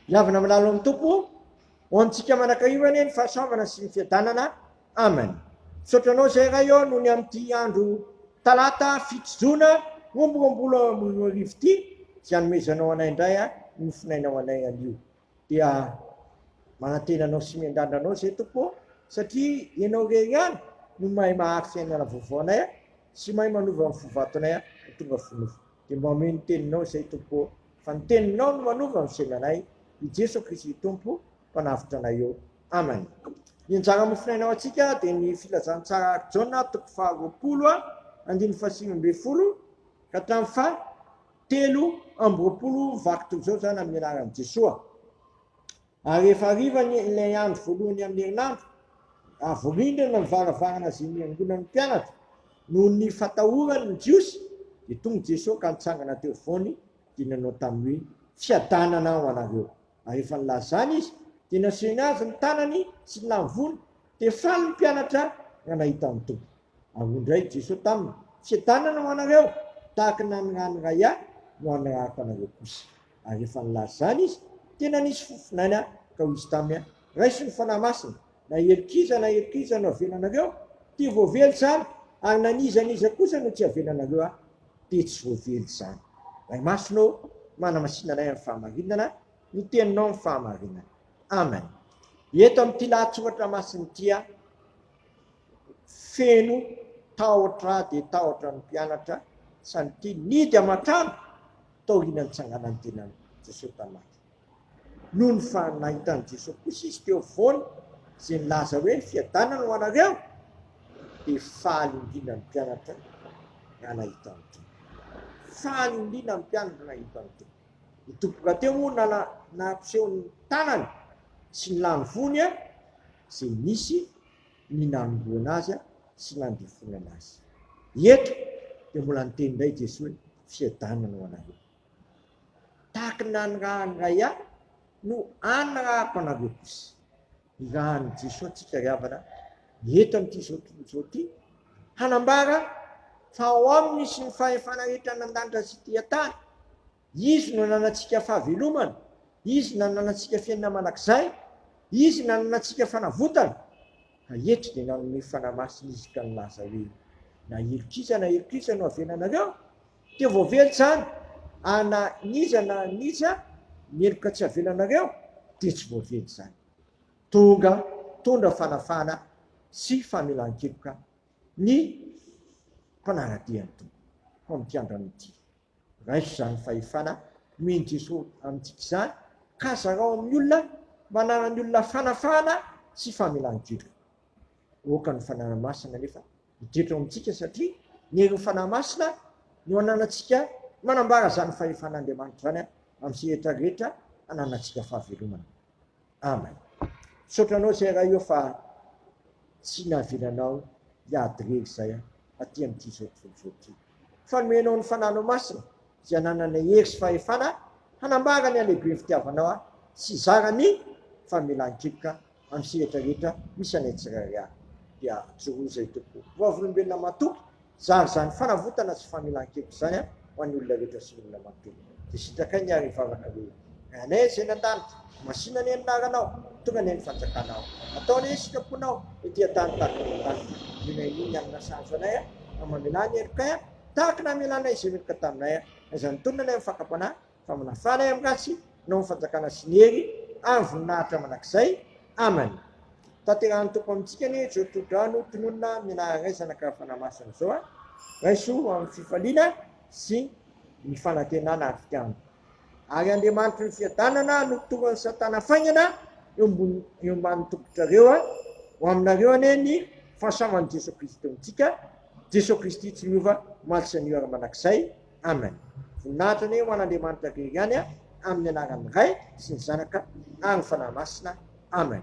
Miavona amin'ny lalo amin'ny tompo, ho amintsika manaka io anie ny fahasoavana sy ny fiadanana amany. Misaotra anao izay ray eo noho ny amin'ity andro talata fito jona roa amby roapolo roa arivo ity izay anomezanao anay indray ny fonainao anay anio. Dia manantena anao sy miandrandra anao izay Tompo ô, satria Ianao irery ihany no mahay mahary fiainana vaovao anay a, sy mahay manova ny fo vatonay a, ho tonga fonofo. Dia mba omeo ny Teninao izay Tompo ô, fa ny Teninao no manova ny fiainanay, i Jeso Kristy Tompo, Mpanavotra anay ô. Amen. Ny anjara mofon'aina ho antsika dia ny Filazantsara araka Jaona toko faha roapolo andininy fahasivy ambin'ny folo ka hatramin'ny faha Telo amby roapolo vaky toy izao izany amin'ny anaran'i Jesoa. Ary rehefa hariva ny ilay andro voalohany amin'ny herinandro, avorindrina ny varavarana izay niangonan'ny mpianatra noho ny fatahorany ny Jiosy, dia tonga i Jesoa ka nitsangana teo afovoany dia nanao taminy hoe, Fiadanana ho anareo. Ary rehefa nilazany Izy, dia nasehony azy ny tanany sy ny lamy volo, dia faly ny mpianatra raha nahita ny Tompo. Ary hoy indray Jesoa taminy, Tsy entanana ho anareo, tahaka ny nanirahan'ny Ray Ahy no hanirahako anareo kosa. Ary rehefa nilaza izany Izy, tena nisy fofon'aina ka hoy Izy taminy, Raiso ny Fanahy Masina, na heloka iza na heloka iza no avelanareo, dia voavela izany, ary na n'iza n'iza kosa no tsy avelanareo, dia tsy voavela izany. Ray Masina ô, manamasina anay amin'ny fahamarinana, ny Teninao ny fahamarinana. Amen. Eto amin'ity lahatsoratra masina ity aho Feno tahotra dia tahotra ny mpianatra sanatria nihidy aman-trano tao aorianan'ny nitsanganan'ny tenan'i Jesoa tamin'andro. Nony fa nahitan'i Jesoa kosa izy teo afovoany izay nilaza hoe ny fiadanana ho anareo dia faly indrindra ny mpianatra raha nahita ny Tompo. Faly indrindra ny mpianatra raha nahita ny Tompo. Ny Tompo rahateo moa napiseho ny tanany sy ny lany vony izay nisy ny nanomboana azy sy nandefonana azy. Eto dia mbola niteny indray Jesoa hoe, Fiadanana ho anareo. Tahaka ny nanirahan'ny Ray ahy no anirahako anareo kosa. Nirahan'i Jesoa antsika ry havana eto amin'ity izao tontolo izao ity hanambara fa ao aminy sy ny fahefana rehetra any an-danitra sy ety an-tany. Izy no nanantsika fahavelomana, Izy nananantsika fiainana mandrakizay, Izy nananantsika fanavotana, ka etry dia nanome Fanahy Masina Izy ka nilaza hoe, Na helokiza na helokiza no avelanareo, dia voavela izany, ary na n'iza na n'iza meloka tsy avelanareo, dia tsy voavela izany. Tonga nitondra fanafahana sy famelan-keloka ny mpanara-dia ny Tompo, ao amin'ity andron'ity. Raiso izany fahefana nomen'i Jesoa amintsika izany ka zarao amin'ny olona manana ny olona fanafahana sy famelan-keloka. Aoka ny Fanahy Masina anefa hitoetra ao amintsika satria ny herin'ny Fanahy Masina no ananantsika manambara izany fahefan'Andriamanitra izany amin'ny sehatra rehetra ananantsika fahavelomana. aminy. Misaotra anao zay Ray ô fa tsy navelanao hiady rery izay aty amin'ity izao tontolo izao ity. Fa nomenao ny Fananao Masina izay ananana hery sy fahefana hanambara ny halehiben'ny fitiavanao sy hizara ny famelan-keloka amin'ny sehatra rehetra misy anay tsirairay. Dia joroa izay Tompo. Ho vavolombelona matoky Zary izany fanavotana sy famelan-keloka izany ho an'ny olona rehetra sy ny olona marobe. Dia sitrakay ny ary vavaka hoe, Ranay izay any an-danitra, masìna anie ny anaranao, tonga anie ny fanjakanao. Atao anie ny sitraponao ety an-tany tahaka ny an-danitra. Mino ahy anie ny alina sahazo anay ary mamelà ny helokay, tahaka ny namelanay izay meloka taminay. Na izany tolona anay amin'ny fakam-panahy, Fa manafana ahy amin'ny ratsy, noho ny fanjakana sy ny hery, ary voninahitra mandrakizay. Amen. Tanterahin'ny Tompo amintsika anie izao tohodrano tononina menahary iray zanaka Fanahy Masina izao a! Raiso ho amin'ny fifaliana sy ny fanantenana ary fitiavana. Ary Andriamanitry ny fiadanana no toran'i Satana faingana eo ambony eo ambanin'ny tongotrareo a! Ho aminareo anie ny fahasaman'i Jesoa Kristy Tompon-tsika, Jesoa Kristy tsy miova omaly sy anio ary mandrakizay. Amen! Voninahitra anie ho an' Andriamanitra be ihany a! Amin'ny anaran'ny Ray sy ny Zanaka ary ny Fanahy Masina. Amen!